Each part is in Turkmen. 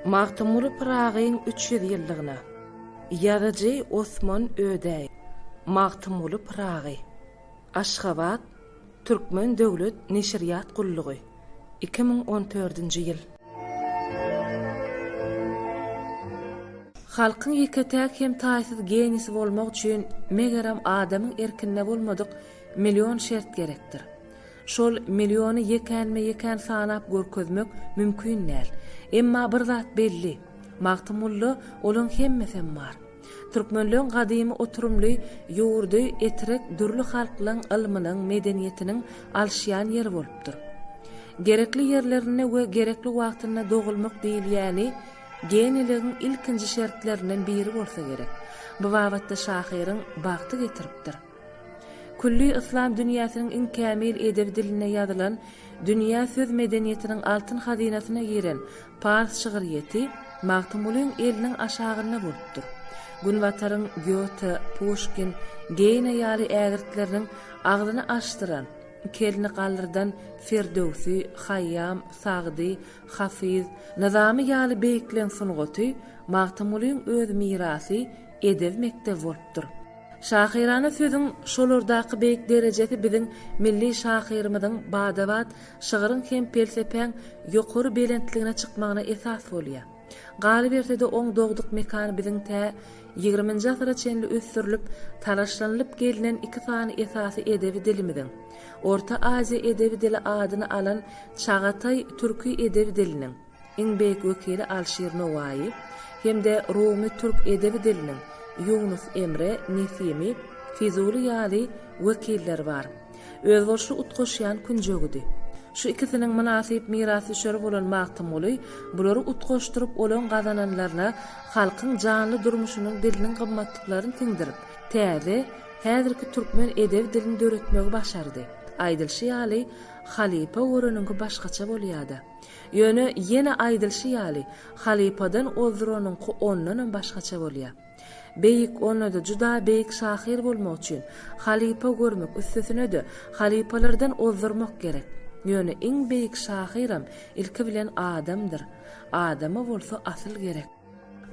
Magtymguly Pyragyň üç ýüz ýyllygyna Ýazyjy Osman Ödäý Magtymguly Pyragy Aşgabat, Türkmen döwlet neşirýat gullugy, iki müň on dördünji ýyl. Halkyň ýeke-täk hem taýsyz genisi bolmak üçin, megerem, adamyň erkinde bolmadyk Million şert gerekdir. Şol milliony ýekänme-ýekän sanap görkezmek mümkin däl. Emma bir zat belli, Magtymgulda olaň hemmesem bar. Türkmenleň gadymy oturymly ýurdy Etrek dürli halklaň ylmynyň, medeniýetiniň alşýan ýeri bolupdyr. Gerekli ýerlerinde we gerekli wagtynda dogulmak diýilýäni geniligiň ilkinji şertlerinden biri bolsa gerek. Bu babatda şahyryň bagty getiripdir. Külli yslam dünýäsiniň iň kämil edebi dilinde ýazylan, dünýä söz medeniýetiniň altyn hazynasyna giren pars şygryýeti Magtymgulyň eliniň aşagynda bolupdyr. Günbataryň Gýote, Puşkin, Geýne ýaly ägirtleriniň agzyny açdyran, iki elini galdyrdan Firdöwsi, Haýýam, Sagdy, Hafyz, Nyzamy ýaly beýikleriň sungaty Magtymgulyň öz mirasy edel mekdebi bolupdyr. Şahyrana sözüň şolardaky beýik derejesi biziň milli şahyrymyzyň bada-bat şygryň hem pelsepäň ýokary belentligine çykmagyna esas bolýar. Galyberse-de oň dogduk mekany biziň tä ýigriminji asyra çenli ösdürilip, talaşlanylyp gelnen iki sany esasy edebi dilimiziň, Orta Aziýa edebi dili adyny alan çagataý türki edebi diliniň, iň beýik wekili Alşir Nowaýy hem-de rumy türk edebi diliniň Ýunus Emre, Nesimi, Fizuly ýaly wekilleri bar. Özboluşly utgaşýan künjegidi. Şu ikisiniň mynasyp mirasdüşeri bolan Magtymguly bulary utgaşdyryp olaň gazananlaryna halkyň janly durmuşynyň diliniň gymmatlyklaryny siňdirip, täze, häzirki türkmen edebi dilini döretmegi başardy. Aýdylyşy ýaly, halypa göreniňki başgaça bolýada. Ýöne, ýene aýdylyşy ýaly, halypadan ozduranyňky ondanam başgaça bolýar. Beýik, onda-da juda beýik şahyr bolmak üçin, halypa görmek, üstesine-de, halypalardan ozdurmak gerek. Ýöne, iň beýik şahyram, ilki bilen, adamdyr. Adama bolsa asyl gerek.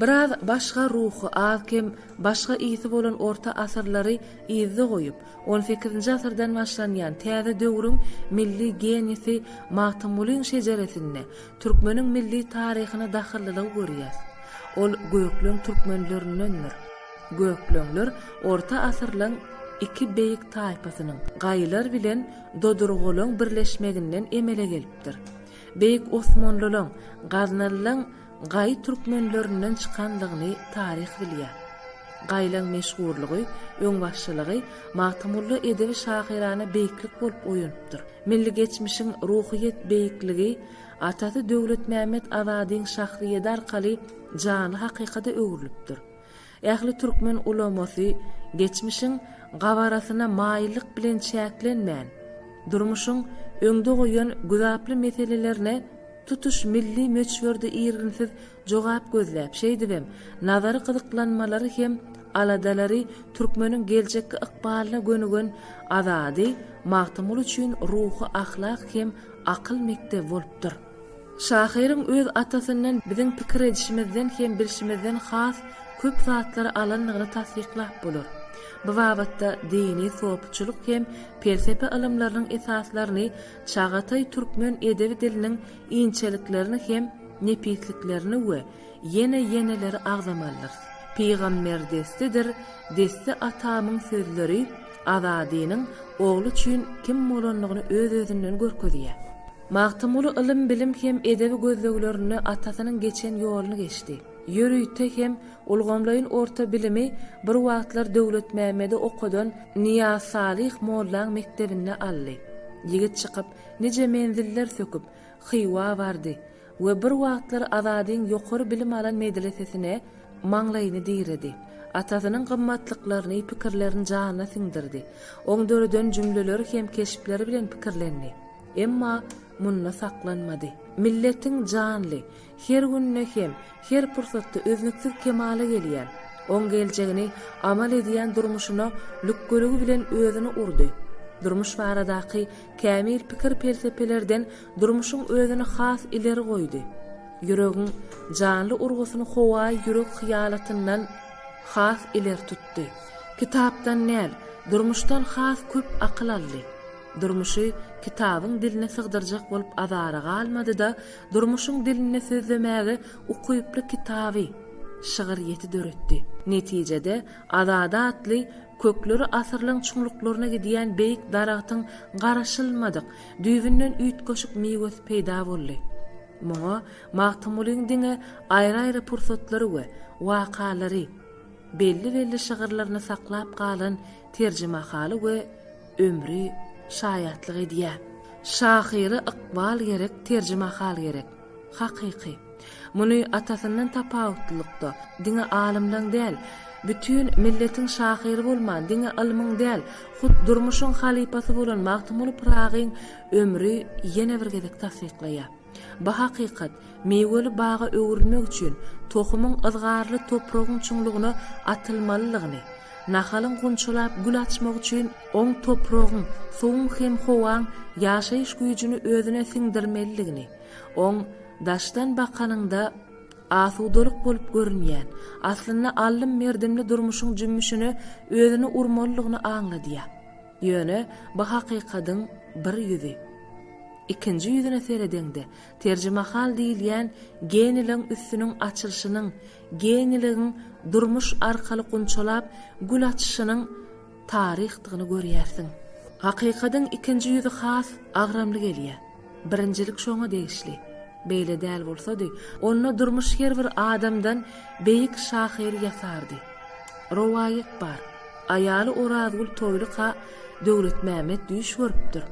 Biraz başga ruhy, az-kem başga ysy bolan orta asyrlary yzda goýup, on sekizinji asyrdan başlanýan täze döwrüň milli genisi Magtymgulyň şejeresinde türkmeniň milli taryhyna dahyllylygy görýäs. Ol gökleň türkmenlerindendir. Gökleňler orta asyrlaň iki beýik taýpasynyň, gaýylar bilen dodurgalaň birleşmeginden emele gelipdir. Beýik osmanlylaň, gaznalylaň, Gaý türkmenlerinden çykandygyny taryh bilýär. Gaýlaň meşhurlygy, öňbaşçylygy Magtymguly edebi şahyrana beýiklik bolup oýanypdyr. Milli geçmişiň ruhyýet beýikligi atasy Döwletmämmet Azadyň şahsyýedi arkaly janly hakykada öwrülipdir. Ähli türkmen ulamasy geçmişiň gabarasyna maýyllyk bilen çäklenmän, durmuşyň öňde goýan güzaply meselelerine tutuş milli möçberde irginsiz jogap gözläp, şeýdibem, nazary gyzyklanmalary hem aladalary türkmeniň geljekki ykbalyna gönügen Azady Magtymguly üçin ruhy-ahlak hem akyl mekdebi bolupdyr. Şahyryň öz atasyndan biziň pikir edişimizden hem bilşimizden has köp zatlary alandygyny tassyklap bolar. Bu babatda dini sopçulyk hem pelsepe ylymlarynyň esaslaryny, çagataý türkmen edebi diliniň inçeliklerini hem nepisliklerini we ýene ýeneleri agzamalydyrys. Pygamber destidir, desti atamyň sözleri Azadynyň ogly üçin kim bolandygyny öz-özünden görkezýär. Magtymguly ylym-bilim hem edebi gözleglerinde atasynyň geçen ýoluny geçdi. Ýörite hem ulgamlaýyn orta bilimi bir wagtlar Döwletmämmedi okadan Nyýazsalyh mollaň mekdebinde aldy. Ýigit çykyp, nije menziller söküp, Hywa bardy we bir wagtlar Azadyň ýokary bilim alan medresesine maňlaýyny diredi. Atasynyň gymmatlyklaryny, pikirlerini janyna siňdirdi. Oň döreden jümleleri hem keşpleri bilen pikirlendi. Emma munda saklanmady. Milletiň janly, her günde hem, her pursatda üznüksiz kemala gelýän, oň geljegini amal edýän durmuşyna lükgüligi bilen özüni urdy. Durmuş baradaky kämil pikir-pelsepelerden durmuşyň özüni has ileri goýdy. Ýüregiň janly urgusyny howaýy ýürek hyýalatyndan has ileri tutdy. Kitapdan däl, durmuşdan has köp akyl aldy. Durmuşy kitabyň diline sygdyrjak bolup azara galmady-da, durmuşyň dilinde sözlemäge ukyply kitaby, şygyr ýeti döretdi. Netijede, Azady atly kökleri asyrlaryň çuňluklaryna gidýän beýik daragtyň garaşylmadyk, düýbünden üýtgeşik miwesi peýda boldy. Muňa Magtymgulyň diňe aýry-aýry pursatlary we wakalary, belli-belli şygyrlaryny saklap galan terjimehaly we Ömri şaýatlyk edýär. Şahyra ykbal gerek, terjimahal gerek. Hakyky. Muny atasyndan tapawutlylykda, diňe alymlaň däl, bütin milletiň şahyry bolman, diňe ylmyň däl, hut durmuşyň halypasy bolan Magtymguly Pyragyň ömri ýene bir gezek tassyklaýar. Bu hakykat, miweli baga öwrülmek üçin tohumyň yzgarly topragyň çuňlugyna atylmalydygyny, nahalyň gunçalap gül açmagy üçin oň topragyň, suwuň hem howaň ýaşaýyş güýjüni özüne siňdirmelidigini, oň, daşdan bakanyňda, asudalyk bolup görünýän, aslynda allym-merdimli durmuşyň jümmüşine özüni urmalydygyny aňladýar. Ýöne bu hakykadyň bir ýüzi. Ikinji ýüzüne seredeňde, terjimehal diýilýän geniligiň üstüniň açylyşynyň, geniligiň durmuş arkaly gunçalap gül açyşynyň taryhdygyny görýärsiň. Hakykadyň ikinji ýüzi has agramly gelýär. Birinjilik şoňa degişli. Beýle däl bolsady, onda durmuş her bir adamdan beýik şahyr ýasardy. Rowaýat bar. Aýaly Orazgül Toýlyka Döwletmämmet düýş görüpdir.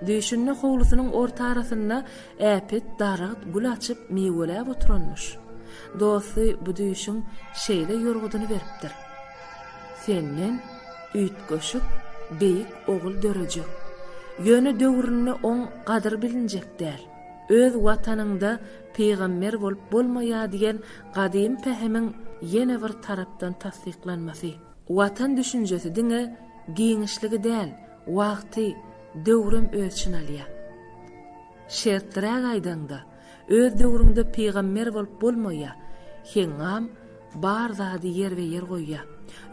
Düýşünde howlusynyň ortarasynda äpet daragt gül açyp miweläp oturanmyş. Dosty bu düýşüň şeýle ýorgudyny beripdir. Senden üýtgeşik beýik ogul dörejek. Ýöne döwründe oň gadyr bilinjek däl. Öz Watanyňda pygamber bolup bolmaýar diýen gadym pähimiň ýene bir tarapdan tassyklanmasy. Watan düşünjesi diňe giňişligi däl, wagty, döwrem ölçin alýar. Şertliräk aýdaňda, Öz döwrüňde pygamber bolup bolmaýa, Hengam bar zady ýerbe-ýer goýýa.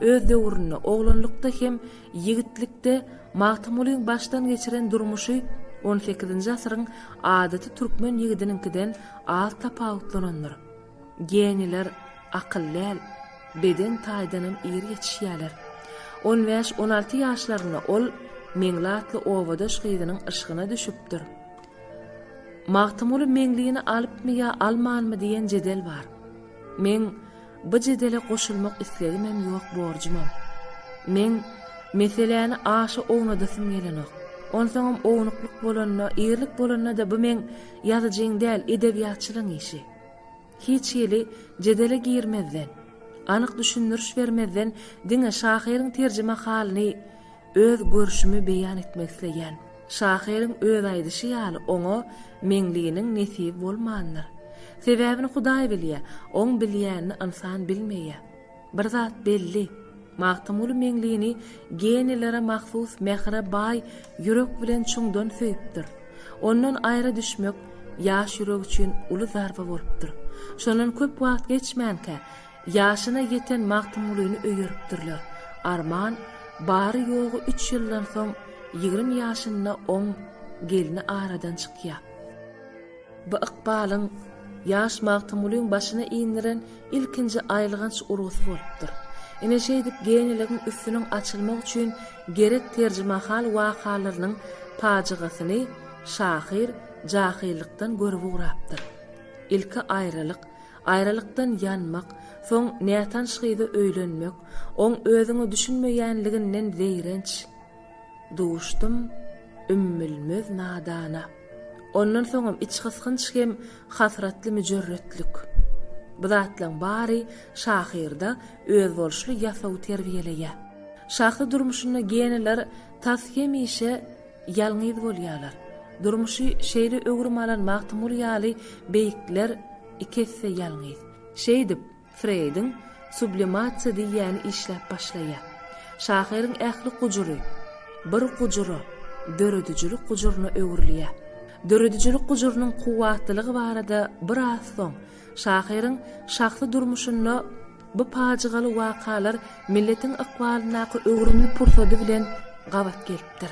Öz döwründe, oglanlykda hem ýigitlikde Magtymgulyň başdan geçiren durmuşy on sekizinji asyryň adaty türkmen ýigidiniňkiden az tapawutlanandyr. Geniler akyl däl, beden taýdanam ir ýetişýäler. On bäş-on alty ýaşlarynda ol Meňli atly obadaş gyzynyň yşgyna düşüpdir. Magtymguly Meňlini alypmy ýa almanmy diýen jedel bar. Meň by jedele goşulmak islegimem ýok borjumam. Meň meseläni aşa ownadasym gelenok. Onsoňam ownuklyk bolanda, ýerlik bolanda-da bu meň ýazyjyň däl, edebiýatçylyň işi. Hiç hili jedele girmezden, anyk düşündiriş bermezden diňe şahyryň terjimehalyny, Öz görşümi beýan etmek isleýän. Şahyryň öz aýdyşy ýaly oňa Meňliniň nesip bolmandyr. Sebäbini Hudaý bilýä, oň bilýänini ynsan bilmeýä. Bir zat belli, Magtymguly Meňlini geniýlere mahsus mähire baý ýürek bilen çuňdan söýüpdir. Ondan aýra düşmek ýaş ýürek üçin uly zarba bolupdyr. Şondan köp wagt geçmänkä, Ýaşyna ýeten Magtymgulyny öýeripdirler. Arman bary-ýogy üç ýyldan soň ýigrimi ýaşynda oň gelni aradan çykýar. Bu ykbalyň ýaş Magtymgulyň başyna indiren ilkinji aýylganç urgusy bolupdyr. Ine şeýdip geýniligiň üstüniň açylmagy üçin gerek terjimahal wakalarynyň pajygasyny şahyr jahylykdan görüp ugrapdyr. Ilki aýralyk, Aýralykdan ýanmak, soň nätanyş gyza öýlenmek, oň özüňe düşünmeýänliginden zeýrenç. Duşdum ümmülmez nadana. Ondan soňam içgysgynç hem hasratly müjerretlik. Bu zatlaryň bary şahyrda özboluşly ýasawy terbiýeleýär. Şahsy durmuşynda geneler tas hemişe. Ýalňyz bolýarlar. Durmuşy şeýle öwrüm alan Magtymguly ýaly beýikler iki esse ýalňyz. Şeýdip, Freýdiň sublimasiýa diýýäni işläp başlaýar. Şahyryň ähli gujury bir gujura, döredijilik gujuryna öwrülýär. Döredijilik gujurynyň kuwwatlylygy barada biraz soň Şahyryň şahsy durmuşynda bu pajygaly wakalar milletiň ykbalyndaky öwrümli pursady bilen gabat gelipdir.